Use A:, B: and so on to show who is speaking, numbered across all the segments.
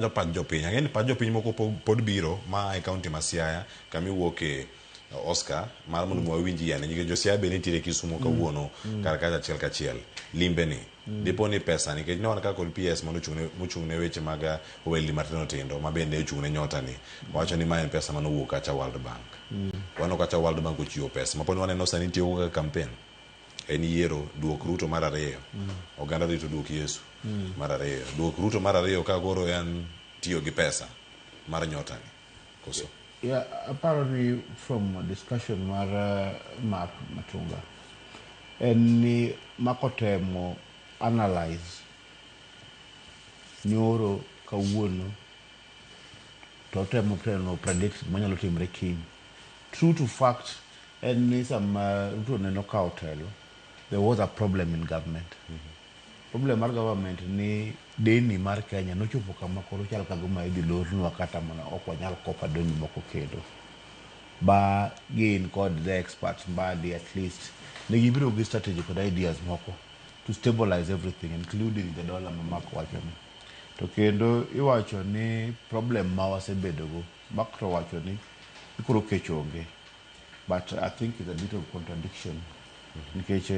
A: Donjo pach jopiny. Ang'e ni pach jopiny moko po- pod biro ma e kaunti ma Siaya kama iwuoke Oscar mar mondo mi wawinj yane nikech jo Siaya be nitiere Kisumo kawuono kar kacha achiel kachiel limbe ni dipo ni pesa nikech ne wan ka kod PS mane ochung' ne- mochung' ne weche mag uh, ohelni matindo tindo ma bende ochung' ne nyota ni wacho ni ma en pesa mane owuok kacha World Bank waneno kacha World Bank ochiwo pesa ma pod waneno sani tiyo go kaka campaign en yiero duok Ruto mar ariyo oganda rito duok Yesu mar ariyo duok Ruto mar ariyo ka koro en tiyo gi pesa mar nyota ni koso Yeah,
B: aparo ni from discussion mar uh, Mark Matunga en ni Mark otemo analyze nyoro kawuono to otemo teno predict manyalo timre kiny True to fact en ni sama Ruto ne nokawo telo, there was a problem in government. Problem mar government ni deni mar Kenya nochopo kama koro chal ka gima idhi lornwa kata mana ok wanyal kopa deni moko kendo. Ba gin kod the experts mbadi at least ne gibiro gi strategy kod ideas moko to stabilize everything including the dollar ma Mark wacho ni. To kendo iwacho ni problem ma wasebedogo Mark to owacho ni koro kech onge but I think it's a bit of contradiction nikech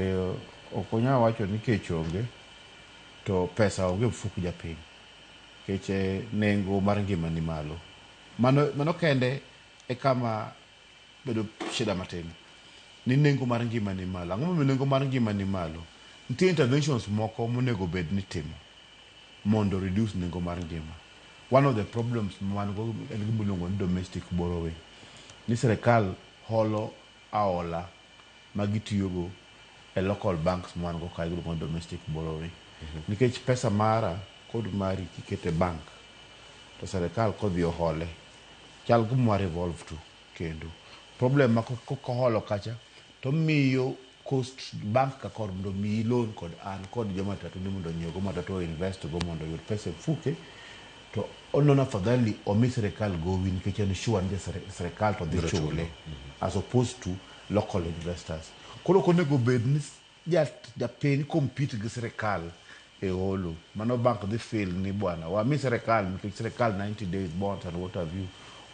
B: ok onyal wacho ni kech onge to pesa onge mfuk japiny kech nengo mar ngima ni malo mano, mano kende e kama bedo shida matin ni nengo mar ngima ni malo. Ang'o momiyo nengo mar ngima ni malo? Nitie interventions moko monego bed ni timo mondo o reduce nengo mar ngima. One of the problems ma wan go en gima iluongo ni domestic borrowing. Ni sirkal holo aola ma gitiyogo e local banks ma wan go kae iluongo ni domestic borrowing. Nikech pesa mara kod mari kiketo e bank to sirkal kodhi ohole, chal gima wa revolve to kendo. Problem ma koholo kacha to omiyo Coast bank ka kor mondo omiyi loan kod an kod jo matatu ni mondo onyiew go matatu o invest go mondo oyud pesa e mfuke to onono afadhali omi sirikal gowi nikech en sure ni sirikal to dhi Biro chule. chule as opposed to local investors. Koro ok onego bed ni ja japiny compete gi sirikal e holo. Mano bank dhi fail ni bwana wami sirikal nikech sirikal 90 days bonds and what have you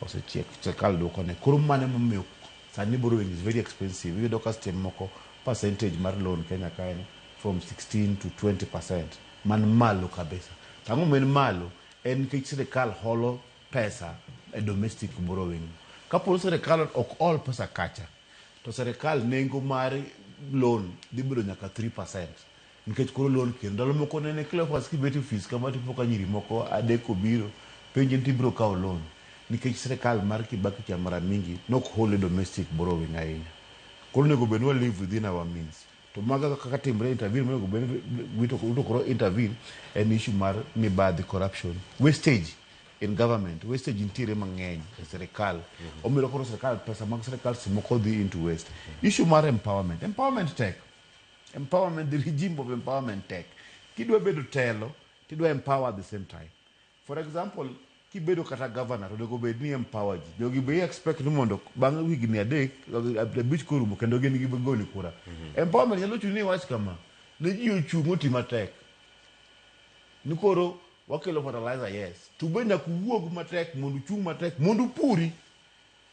B: osechiek sirikal duoko ne. Koro mano ema omiyo sani borrowing is very expensive. Iyudo ka seche moko percentage mar loan Kenya ka en from 16 to 20% man malo kabisa. To ang'o momiyo en malo? En nikech sirikal holo pesa e domestic borrowing. Kapo ni sirikal ok hol pesa kacha to sirikal nengo mar loan dhi bedo nyaka 3%. nikech koro olor ker. Ndalo moko nene Cleophas kibet e ofis kama to ipo ka nyiri moko adek obiro penji ni to ibiro kawo loan nikech sirkal mar Kibaki cha mara mingi nok hol e domestic borrowing ahinya. Koro onego bed ni wa live within our means. To maga kaka timre intervene monego bed ni Ruto koro intervene en issue mar mibadhi, corruption, wastage in government. Wastage nitiere mang'eny e sirkal. Omiyo koro sirkal pesa mag sirkal seche moko dhi into waste. Issue mar empowerment, empowerment tek. Empowerment, the regime of empowerment tek. Kidwa bedo telo, tidwa empower at the same time. For example, kibedo kata governor, onego bed ni empower ji. Jogi be expect ni mondo bang' higni adek, abich korumo, kendo gin gigoni kura. Empowerment nyalo chuni iwach kama, ne ji ochung' oti matek, ni koro wakelo fertilizer, yes. To be nyaka uwuog matek mondo uchung' matek mondo upuri.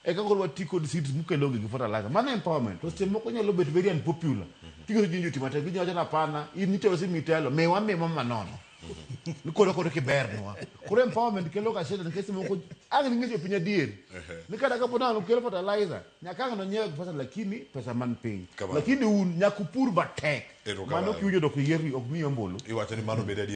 B: Eka koro wati kod seeds mukelo onge gi fertilizer. Mano empowerment. To seche moko nyalo bet very unpopular. Kigero jinji oti matek, jinji wacho napana, in nitelo si mitelo, miwa miwa manono. Ni koro koro kibernwa. Koro empowerment kelo ga shida nikech seche moko ang' ning'e jopiny adier. Ni kata kapo nalo kelo fertilizer, nyaka ang' nonyiew gi pesa lakini pesa man piny. Kamano. Lakini un nyaka upur matek. Erokamano.
A: Mano
B: kiwinjo dok iyerni
A: ok
B: miyi ombulu. Iwacho ni
A: mano
B: bed adier.